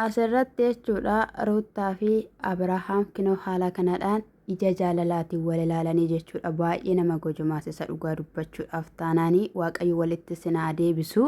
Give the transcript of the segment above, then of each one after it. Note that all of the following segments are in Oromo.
Asirratti jechuudha Ruuttaa fi Abirahaam kinoo haala kanadhaan ija jaalalaatiin wal ilaalanii jechuudha baay'ee nama gojomaasisa dhugaa dubbachuudhaaf taanaanii waaqayyo walitti sinaa deebisu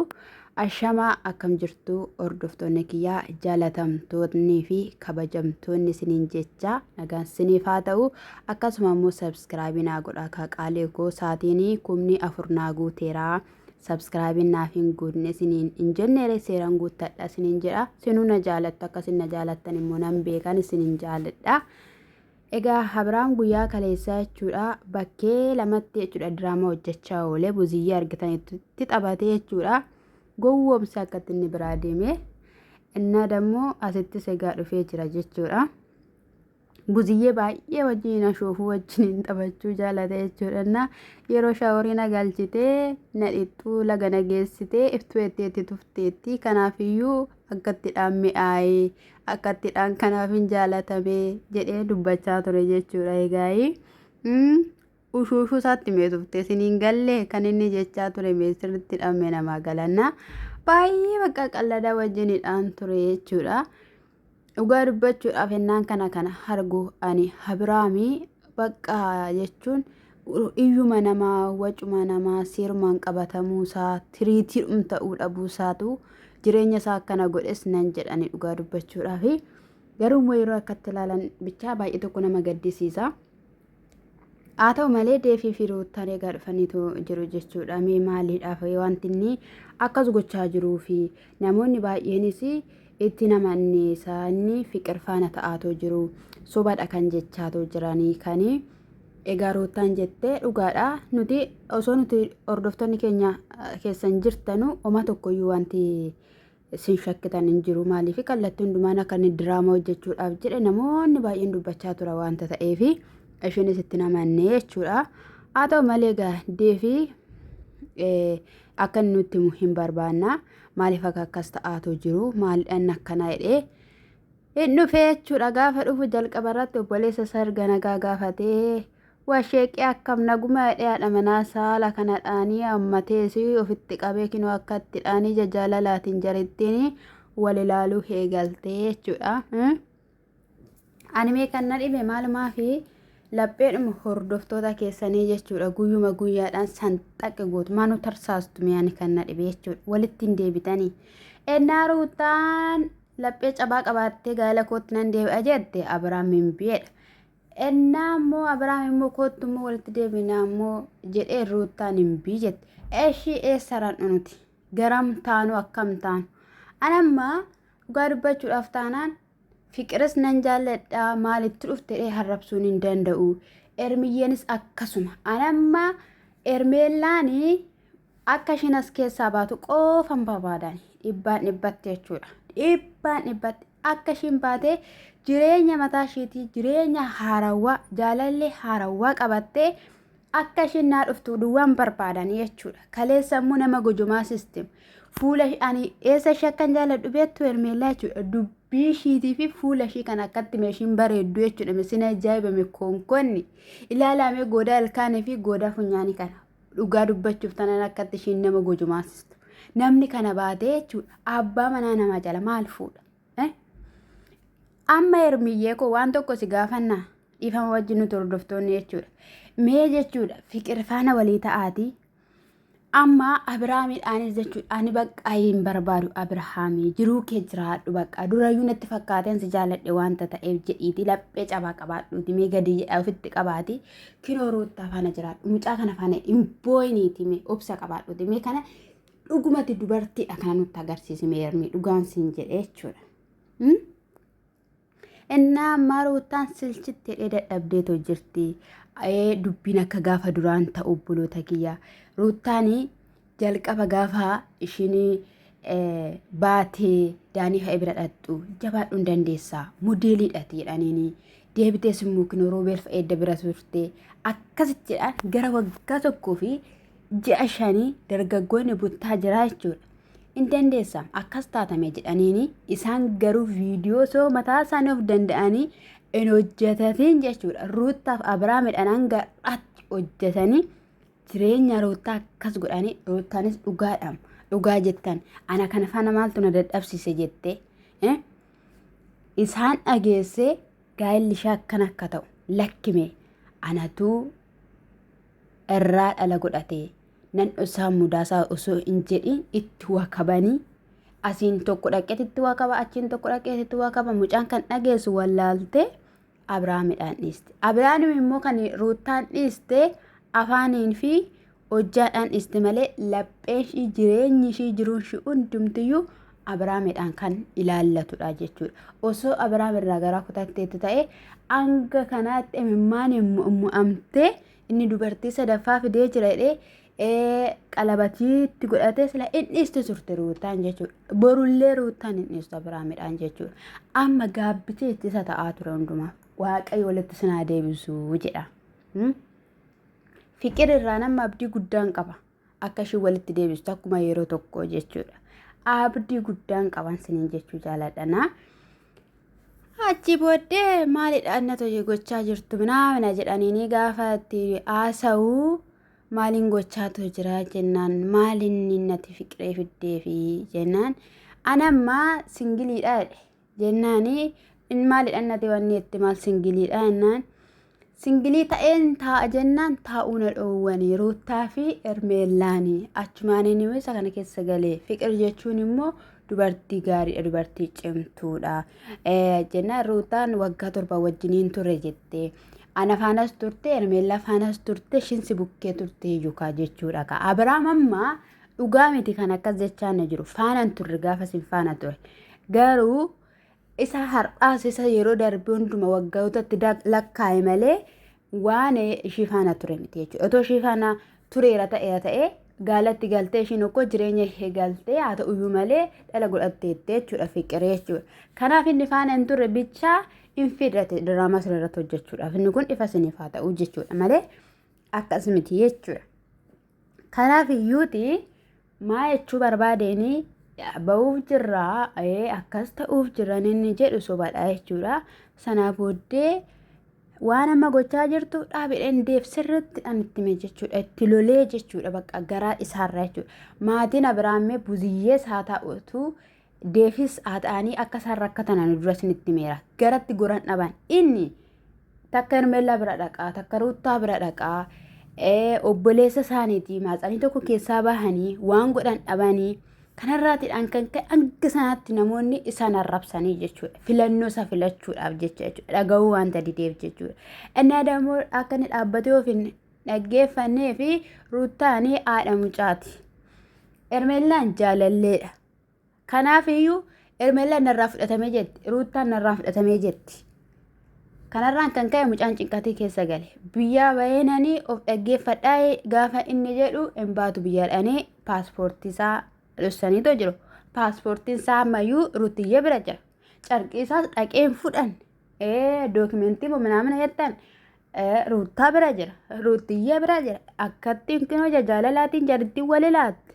ashamaa akkam jirtu hordoftoonni kiyyaa jaalatamtoonni fi kabajamtoonni siniin jecha nagaan siniif haa ta'u akkasuma immoo sabskraabii naa godhaa kaa qaalee koo saatiinii kumni afur naa guuteeraa. Subscribe naaf hin guutne isiniin hin jenneere seeran guuttadha isiniin jedha. Sinuu na jaalattu akkasin na jaalattan immoo nan beekan isinin jaaladha. Egaa Abiraam guyyaa kaleessaa jechuudha bakkee lamatti jechuudha diraamaa hojjechaa oolee buziyyee argitanitti taphatee jechuudha gowwoomsi akkatti inni biraa deemee innaa dammoo asittis egaa dhufee jira jechuudha. Buziyyee baay'ee wajjin ashoofuu wajjin taphachuu jaalata jechuudha. Na yeroo shaaworii na galchitee na dhiqxuu laga na geessitee iftuu etteetti tufteetti. Kanaafiyyuu akkatti dhaan mi'aayee akkatti dhaan kanaaf hin jaalatamee jedhee dubbachaa ture jechuudha. Egaayii ushuushuu isaatti mee tufte siniin gallee kan inni jechaa ture mee sirriitti dhaan mee namaa galanna. Baay'ee bakka qalladaa wajjinidhaan ture jechuudha. Dhugaa dubbachuudhaaf ennaan kana kana argu ani Abiraami bakka jechuun iyyuma namaa wacuma namaa seerumaan qabatamuu isaa tiriitii ta'uu dhabuu isaatu jireenya isaa akkana godhes nan jedhani dhugaa dubbachuudhaaf garuu immoo yeroo akkatti ilaalan bichaa baay'ee tokko nama gaddisiisa. Haa ta'u malee deefii fi ruuttaan egaa dhufaniitu jiru jechuudha. Mee maaliidhaaf wanti inni akkas gochaa jiruu fi namoonni baay'eenis itti nama anneessaa inni fiqir faana ta'aatoo jiru sobadha kan jechaatoo jiranii kan egaa ruuttaan jettee dhugaadha nuti osoo nuti hordoftoonni keenya keessan jirtanu oma tokkoyyuu wanti Isin shakkitan hin jiru maaliif kallattii hundumaan akka inni diraamaa hojjechuudhaaf jedhe namoonni baay'een dubbachaa tura waanta ta'eef ishinis itti namanne jechuudha. Haa ta'u malee egaa deefi akka inni nutti himu hin barbaanna maaliif akka akkas ta'aatu jiru maaliidhaan akkana jedhee hin dhufee jechuudha gaafa dhufu jalqaba irratti obboleessa isaa erga nagaa gaafatee Waa sheeqii akkam naguma jedhee haadha manaa isaa haala kana dhaanii hammatees ofitti qabee kinoo akka itti dhaanii ija jaalalaatiin jarittiin wal ilaaluu eegaltee jechuudha. Animee kan na dhibe maalumaafi lapheedhuma hordoftoota keessanii jechuudha guyyuma guyyaadhaan sanxaqe gootu maanu tarsaastu mi'aan kan na dhibe jechuudha walitti hin deebitanii. Ennaa ruutaan laphee cabaa qabaattee gaa'ela kootti nan deebi'a jette Abiraam hin bi'edha. Ennaa immoo Abrahaam immoo koottu immoo walitti deebinaa immoo jedhee ruuttaan hin bii jette. Eeshii eessa ran'u nuti? Garam taanu akkam taanu? Anamma dhugaa dubbachuudhaaf taanaan fiqiris nan jaalladha maalitti dhufte jedhee harrabsuun hin danda'u. Ermiyyeenis akkasuma. Anamma ermeellaanii Akka ishiin as keessaa baatu qoofan barbaadan dhibbaan dhibbatti jechuudha. Dhibbaan dhibbatti akka ishiin baatee jireenya mataa ishiitii jireenya haarawaa jaalallee haarawaa qabattee akka ishiin naa dhuftu duwwaan barbaadan jechuudha. Kaleessa immoo nama gojomaa sistem fuula ish- ani eessa ishee akkan jaaladhu beektu hermeellaa jechuudha. Dubbii ishiitii fi fuula ishii kan akkatti meeshiin bareeddu jechuudha. Meeshiin ajaa'ibame konkonni ilaalaamee goodaa ilkaanii fi goodaa funyaanii kana. Dhugaa dubbachuuf tanan akkatti ishiin nama gojomaasistu. Namni kana baatee jechuudha. Abbaa manaa namaa jala maal fuudha? Eh? Amma hermiyyee koo waan tokko si gaafannaa dhiifama wajjin nuti hordoftoonni jechuudha. Mee jechuudha fiqir faana walii ta'aatii amma Abiraamiidhaanis jechuudha ani baqqaa hin barbaadu Abirahaamii jiruu kee jiraadhu baqqaa durayyuu natti fakkaateen si jaaladhe wanta ta'eef jedhiiti laphee cabaa qabaadhuuti mee gadii jedhaa ofitti qabaatii Kinoo ruuttaa faana jiraadhu. Mucaa kana faana hin booyiniiti mee obsa qabaadhuuti mee kana dhugumatti dubartiidha kana nutti agarsiisi mee ermii dhugaan siin jedhe jechuudha. Hmm? Innaa ammaa ruuttaan silchitti hidhee dadhabdeetoo jirti. Ee dubbiin akka gaafa duraan ta'u obboloota kiyya. Ruuttaanii jalqaba gaafa ishiin baatee daanii ka'e bira dhaqxu jabaadhu hin dandeessaa modeeliidhaati jedhaniini deebitee simmuu kinoo roobeelf eedda bira turte akkasitti jedhaan gara waggaa tokkoo fi ji'a shanii dargaggoonni buttaa jiraa jechuudha. Hin dandeessa akkas taatame jedhaniini isaan garuu viidiyoo soo mataa isaanii of danda'anii hin hojjetatiin jechuudha. Ruuttaaf Abiraamidhaan hanga har'aatti hojjetanii jireenya roottaa akkas godhanii roottaanis dhugaadhaam dhugaa jettan ana kana faana maaltu na dadhabsiise jettee eh? isaan dhageessee gaa'elli ishee akkan akka ta'u lakkime anatuu irraa dhala godhatee nan dhosaa mudaasaa osoo hin jedhin itti wakabanii asiin tokko dhaqeetitti wakaba achiin tokko dhaqeetitti wakaba mucaan kan dhageessu wallaaltee Abrahaamidhaan dhiiste. Abrahaam immoo kan Ruuttaan dhiiste afaaniin fi hojjaadhaan dhiiste malee lapheen ishii jireenyi ishii jiruun ishii hundumtiyyuu Abrahaamidhaan kan ilaallatudha jechuudha. Osoo Abrahaam irraa garaa kutatteetu ta'e hanga kanaatti imimmaan mo'amtee inni dubartii sadaffaa fidee jira jedhee qalabatii itti godhatee sila hin dhiistu turte ruutaan jechuudha. Borullee ruutaan hin dhiistu Abiraamidhaan jechuudha. Amma gaabbitee itti isa ta'aa ture hundumaa. Waaqayyo walitti sinaa deebisuu jedha. Fiqir irraa nama abdii guddaan qaba. Akka isheen walitti deebistu akkuma yeroo tokko jechuudha. Abdii guddaan qaban siniin jechuu jaaladhanaa. Achi booddee maalidha inni tole gochaa jirtu minaa mina jedhanii gaafa itti haasa'u maaliin gochaatoo jira jennaan maalinni nati fiqiree fiddeefi jennaan ana ammaa singiliidha jedhe jennaani in maalidhan nati wanni itti maal singiliidha jennaan singilii ta'een taa'a jennaan taa'uu na dhoowwanii ruuttaa fi ermeellaani achumaaniin immoo isa kana keessa galee fiqir jechuun immoo dubartii gaariidha dubartii cimtuudha jennaan ruutaan waggaa torba wajjiniin ture jettee. Ana faanas turte, Hermeellaa faanas turte, ishiin si bukkee turte iyyuu kaa jechuudha kaa. Abiraam amma dhugaa miti kan akkas jechaa na jiru. Faanaan turre gaafa sin faana ture. Garuu isa har'aas isa yeroo darbe hunduma waggootatti da- lakkaa'e malee waan ishii faana ture miti jechuudha. Otoo ishii faana tureera ta'eera ta'ee gaalatti galtee ishiin okkoo jireenya ishee galtee haa ta'uyyuu malee dhala godhatteetti jechuudha fiqiree jechuudha. Kanaaf inni faana hin turre bichaa hin fidhate diraamaa sana irratti hojjechuudhaaf inni kun ifa isiniif haa ta'u jechuudha malee akkas miti jechuudha. Kanaaf iyyuuti maa jechuu barbaadeenii ba'uuf jirraa akkas ta'uuf jiran inni jedhu sobadha jechuudha. Sanaa booddee waan amma gochaa jirtu dhaabidhaan deef sirriitti dhaan itti hime jechuudha. Itti lolee jechuudha bakka garaa isaarraa jechuudha. Maatiin Abiraammee buziyyees haa ta'utu Deefis haxaanii akka isaan rakkatan ani dura isinitti himeera. Garatti goran dhaban. Inni takka Hermeellaa bira dhaqaa, takka Ruuttaa bira dhaqaa, ee, obboleessa isaaniitii maaxanii tokko keessaa bahanii waan godhan dhabanii kanarraatiidhaan kan ka'e hanga sanaatti namoonni isaan arrabsanii jechuudha. Filannoo isaa filachuudhaaf jecha jechuudha. Dhaga'uu wanta dideef jechuudha. Inni aadaa immoo akka inni dhaabbatee of hin dhaggeeffannee fi Ruuttaanii haadha mucaati. Hermeellaan jaalalleedha. Kanaafiyyuu Ermeellaan narraa fudhatame jetti. Ruuttaan narraa fudhatamee jetti. Kanarraan kan ka'e mucaan cinqatii keessa gale. Biyyaa baheenanii of dhaggeeffadhaa gaafa inni jedhu hin baatu biyyaadhaanii paaspoortiisaa dhossaniitoo jiru. Paaspoortiinsaa ammayyuu ruutiyyee bira jira. Carqiisaas dhaqeen fudhan. Ee dookimentii moo minaamina jettan Ruuttaa bira jira. Ruuttiyyee bira jira. Akkatti kinoo jaalalaatiin jarittiin wal ilaatte.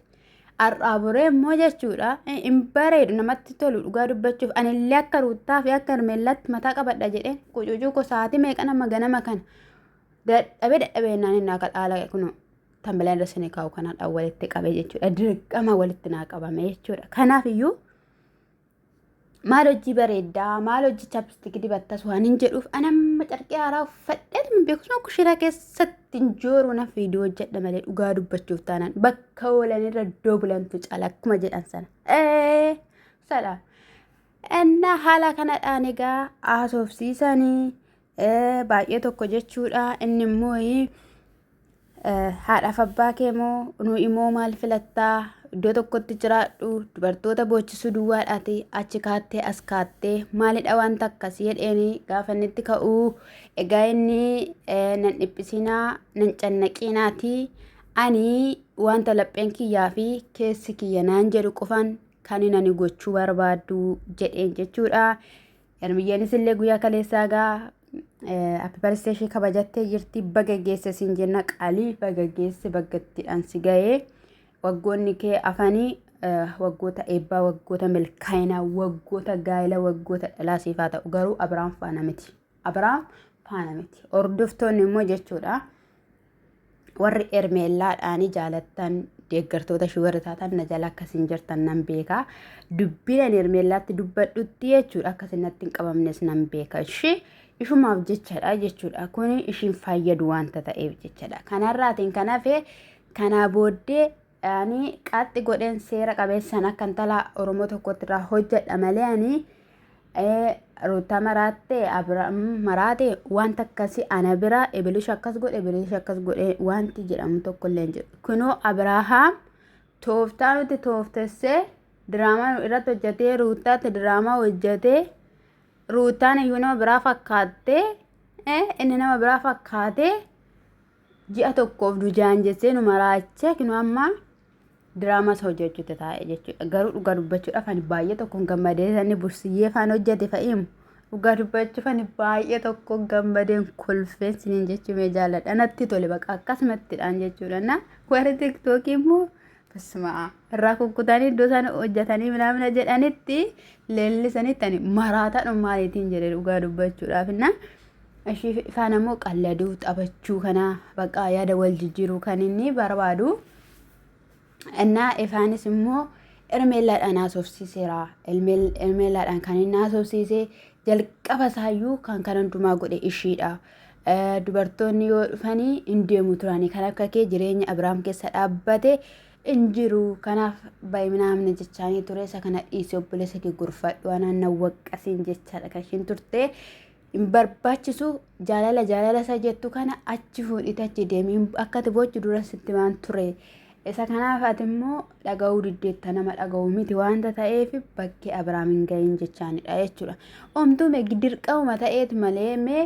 Har'aa boree immoo jechuudha. Hin bareedu namatti tolu dhugaa dubbachuuf. Anillee akka ruuttaa fi akka hermeellaatti mataa qabadha jedhee qucuucuu koo sa'aatii meeqa nama ganama kana. Dadhabee dadhabee naan inni akka dhaala kunoo. Tambilaan irra sanii kaa'u kanaadhaan walitti qabee jechuudha. Dirqama walitti naa qabame jechuudha. Kanaafiyyuu maal hojii bareeddaa maal hojii chapstik dibattas waan hin jedhuuf an amma carqee haaraa uffadheet hin beeku sun kushiraa keessatti hin jooru na fiiduu hojjedha malee dhugaa dubbachuuf taanaan bakka oolan irra iddoo bulantu caala akkuma jedhan sana. Ee sadha. Ennaa haala kanadhaan egaa haasofsiisanii baay'ee tokko jechuudha. Inni immoo haadhaaf abbaa kee moo nu immoo maal filattaa iddoo tokkotti jiraadhu dubartoota boochisuu duwwaadhaati achi kaattee as kaattee maalidha wanta akkas jedheeni gaafa inni itti ka'uu egaa inni nan dhiphisinaa nan cannaqiinaati ani wanta lapheen kiyyaa fi keessi kiyya naan jedhu qofaan kan ani gochuu barbaadu jedheen jechuudha. Hermiyyeenis illee guyyaa kaleessaa egaa happy birthday ishee kabajattee jirti baga geesse siin jenna qalii baga geesse baggattiidhaan si ga'ee waggoonni kee afanii eh, waggoota eebbaa waggoota milkaa'inaa waggoota gaa'ela waggoota dhalaa siif haa ta'u garuu abiraam faana miti abiraam faana miti hordoftoonni immoo jechuudha warri ermeellaadhaanii jaalattan deeggartoota shugar taatan na jala akkasiin jirtan nan beeka dubbiin ani ermeellaatti dubbadhutti jechuudha akkasiin natti hin qabamnes nan beeka ishee ishumaaf jechadha jechuudha kun ishiin fayyadu wanta ta'eef jechadha kanarraatiin kan hafe kanaa booddee ani qaxxi godheen seera qabeessaan akka intala Oromoo tokkotti irraa hojjedha malee ani Ruutaa maraatte Abiraam maraate wanta akkasii ana bira ibilish akkas godhe ibilish akkas godhe wanti jedhamu tokko illee hin jiru. Kunoo Abirahaam tooftaa nuti tooftessee diraamaa nu irratti hojjetee Ruutaatti diraamaa hojjetee Ruutaan iyyuu nama biraa fakkaattee inni nama biraa fakkaatee ji'a tokkoof nu jaanjessee nu maraachee kinu amma diraamas hojjechuutti taa'e jechuudha. Garuu dhugaa dubbachuudhaaf ani baay'ee tokkoon gammadee sanni bursiyyee faan hojjete fa'iimu. Dhugaa dubbachuuf ani baay'ee tokkoon gammadeen kolfeen siniin jechuumee jaalladha. Natti tole baqa akkasumattidhaan jechuudha. Na warri tiktookii immoo Bismaa. Irraa kukkutanii iddoo isaan hojjetanii minaamina jedhanitti leellisanitti ani maraataadhuma maaliitiin jedhe dhugaa dubbachuudhaaf inna ishii faana immoo qalladuu taphachuu kana bakka yaada wal jijjiiruu kan inni barbaadu innaa ifaanis immoo ermeellaadhaan haasofsiiseera ermeellaadhaan kan inni haasofsiise jalqaba isaayyuu kan kan hundumaa godhe ishiidha Dubartoonni yoo dhufani hin deemu turani kan akka kee jireenya Abrahaam keessa dhaabbate hin jiru kanaaf baay'inaamne jechaanii ture isa kana dhiisee obboleessa kee gorfadhu anaan na waqqasiin jechaadha kan ishiin turte hin barbaachisu jaalala jaalala isa jettu kana achi fuudhite achi deemi akka ati boochu dura sitti maan ture isa kanaaf ati immoo dhaga'uu diddeetta nama dhaga'u miti waanta ta'eef bakkee Abrahaam hin gahin jechaanidha jechuudha. Omtuu mee dirqamuma ta'eeti malee mee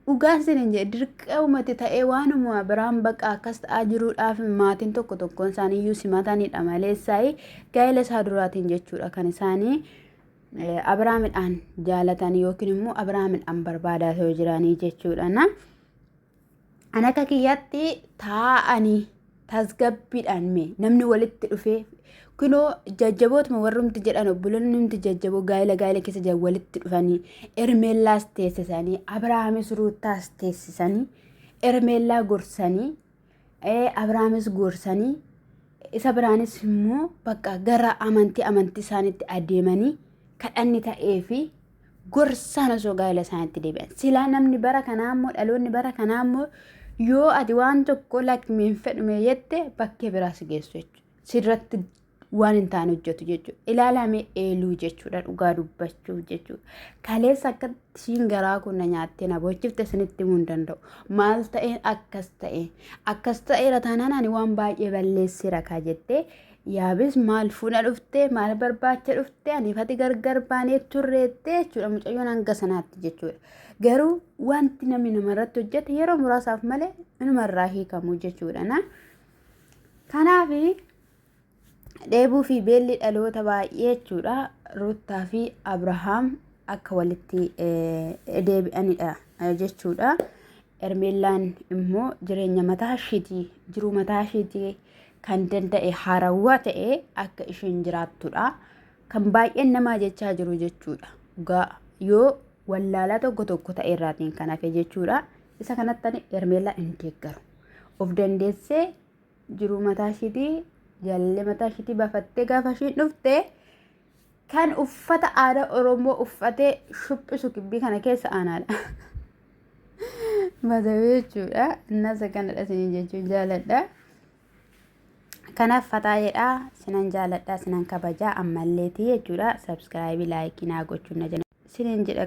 Dhugaan sinin jedhe dirqeumati ta'ee waanuma biraan baqa akkas ta'aa jiruudhaaf maatiin tokko tokkoon isaanii iyyuu simatanidha malee isaayii gaa'ela isaa duraatiin jechuudha kan isaanii Abiraamidhaan jaalatan yookiin immoo Abiraamidhaan barbaadaa yoo jiranii jechuudha. An akka kiyyaatti taa'anii tasgabbiidhaan mee namni walitti dhufee kunoo jajjabootuma warrumti jedhan obboloonni hundi jajjaboo gaa'ela gaa'ela keessa jiran walitti dhufanii ermeellaas teessisanii abrahaamis ruuttaas teessisanii ermeellaa gorsanii ee, abrahaamis gorsanii isa biraanis immoo bakka gara amantii amantii isaaniitti adeemanii kadhanni ta'ee fi gorsaan osoo gaa'ila isaaniitti deebi'an. Silaa namni bara kanaa immoo dhaloonni bara kanaa immoo yoo ati waan tokko lakkii hin fedhume jette bakkee biraa si geessu jechuudha. Sirratti waan hin taane hojjetu jechuudha. Ilaalamee eeluu jechuudha dhugaa dubbachuuf jechuudha. Kaleessa akka ishiin garaa kun na nyaattee na boochifte isinitti himuu hin danda'u. Maal ta'een akkas ta'e akkas ta'eera taanaan ani waan baay'ee balleesseera kaa jettee Yaabis maal fuuna dhufte maal barbaacha dhufte aniif ati gargar baanee turreette jechuudha mucayyoon hanga sanaatti jechuudha. Garuu wanti namni namarratti hojjete yeroo muraasaaf malee inumarraa hiikamu jechuudha. Na kanaaf dheebuu fi beelli dhaloota baay'ee jechuudha Ruuttaa fi Abrahaam akka walitti deebi'anidha jechuudha. Ermeellaan immoo jireenya mataa isheetii jiruu mataa isheetii kan danda'e haarawaa ta'ee akka isheen jiraattudha. Kan baay'een namaa jechaa jiru jechuudha. Dhugaa yoo wallaalaa tokko tokko ta'e irraatiin kan hafe jechuudha. Isa kanatti ani Hermeellaa hin deeggaru. Of dandeessee jiruu mataa ishiitii jaalallee mataa ishiitii baafattee gaafa ishiin dhufte kan uffata aadaa Oromoo uffatee shuphisu gibbii kana keessa aanaadha. Badawee jechuudha. Innasa kanadha isin jechuun jaaladha. Kanaaf fataa jedhaa sinan jaaladha sinan kabajaa ammalleetii jechuudha. Sabskiraayibii laayikii naa gochuun na jala. Sinan jedha.